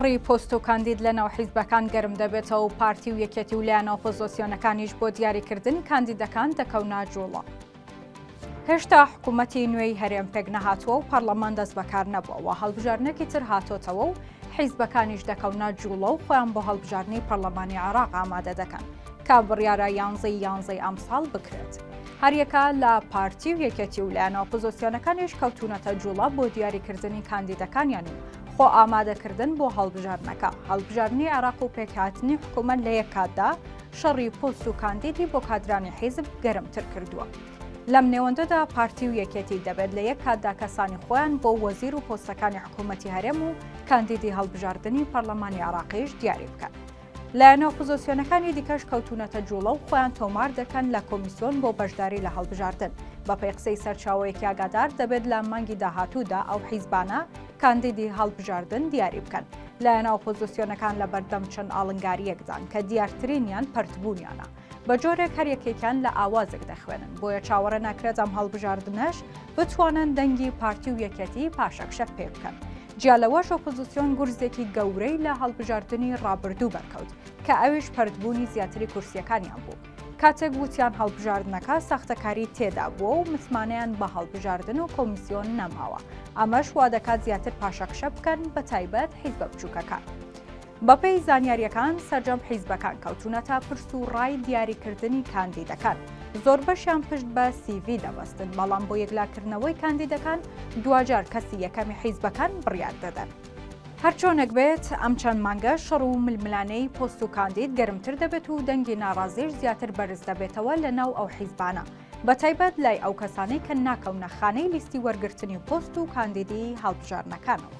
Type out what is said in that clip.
ڕی پۆست و کاندید لە ناو حیزبەکان گەرم دەبێتەوە و پارتی و یەکێتی و لایەنە ئۆپۆزۆسیۆنەکانیش بۆ دیاری کردنی کاندیدەکان دەکەونە جووڵە. هێشتا حکوومەتی نوێی هەرێم پێک نەهاتووە و پەڕڵەمان دەست بەکار نەبووە و هەڵبژاردنێکی تر هاتۆتەوە و حیزبەکانیش دەکەونە جووڵە و خۆیان بۆ هەڵبژاردنی پەڕڵەمانی عێڕاق ئامادە دەکەن کە بڕیارە یانزەی یانزەی ئەمساڵ بکرێت. هەریەکە لە پارتی و یەکێتی و لایەنە ئۆپۆزۆسیۆنەکانیش کەوتوونەتە جووڵە بۆ دیاری کردنی کاندیدەکانیان و خۆ ئامادەکردن بۆ هەڵبژاردنەکە، هەڵبژاردنی عێراق و پێکهاتنی حکوومەت لە یەک کاتدا، شەڕی پۆست و کاندیدی بۆ کادرانی حیزب گەرمتر کردووە. لەم نێوەندەدا پارتی و یەکێتی دەبێت لە یەک کاتدا کەسانی خۆیان بۆ وەزیر و پۆستەکانی حکوومەتی هەرێم و کاندیدی هەڵبژاردنی پەرلەمانی عێراقیش دیاری بکەن. لایەنە ئۆپۆزۆسیۆنەکانی دیکەش کەوتونەتە جوڵە و خۆیان تۆمار دەکەن لە کۆمیسۆن بۆ بەشداری لە هەڵبژاردن بەپێی قسەی سەرچاوەیەکی ئاگادار دەبێت لە مانگی داهاتوودا ئەو حیزبانە کاندیدی هەڵبژاردن دیاری بکەن لایەنە ئۆپۆزۆسیۆنەکان لە بەردەم چەند ئاڵنگاریەکدان کە دیارترینیان پەرتبوونیانە بە جۆرێک هەر یەکێکیان لە ئاوازێک دەخوێنن بۆیە چاوەڕێ ناکرێت ئەم هەڵبژاردنەش بتوانن دەنگی پارتی و یەکەتی پاشەکشەت پێ بکەن. جیا لەوەش ئۆپۆزیسیۆن گورزێکی گەورەی لە هەڵبژاردنی ڕابردوو بەرکەوت کە ئەویش پەرتبوونی زیاتری کورسیەکانیان بوو کاتێک وتیان هەڵبژاردنەکە ساختەکاری تێدا بووە و متمانەیان بە هەڵبژاردن و کۆمیسیۆن نەماوە ئەمەش وا دەکات زیاتر پاشەکشە بکەن بە تایبەت حیزبە بچووکەکان. بەپێی زانیارییەکان سەرجەم حیزبەکان کەوتونەتە پرس و ڕای دیاریکردنی کاندیدەکان زۆر بەشیان پشت بە سیڤ دەبەستن بەڵام بۆ یەکلاکردنەوەی کاندیدەکان دواجار کەسی یەکەمی حیزبەکان بڕیار دەدەن. هەرچۆنێک بێت ئەم چەند مانگە شەڕ و ململانێی پۆست و کاندید گەرمتر دەبێت و دەنگی ناڕازیش زیاتر بەرز دەبێتەوە لە ناو ئەو حیزبانە، بەتایبەت لای ئەو کەسانەی کە ناکەونە خانەی لیستی وەرگرتنی پۆست و کاندیدی هەڵبژاردنەکانەوە.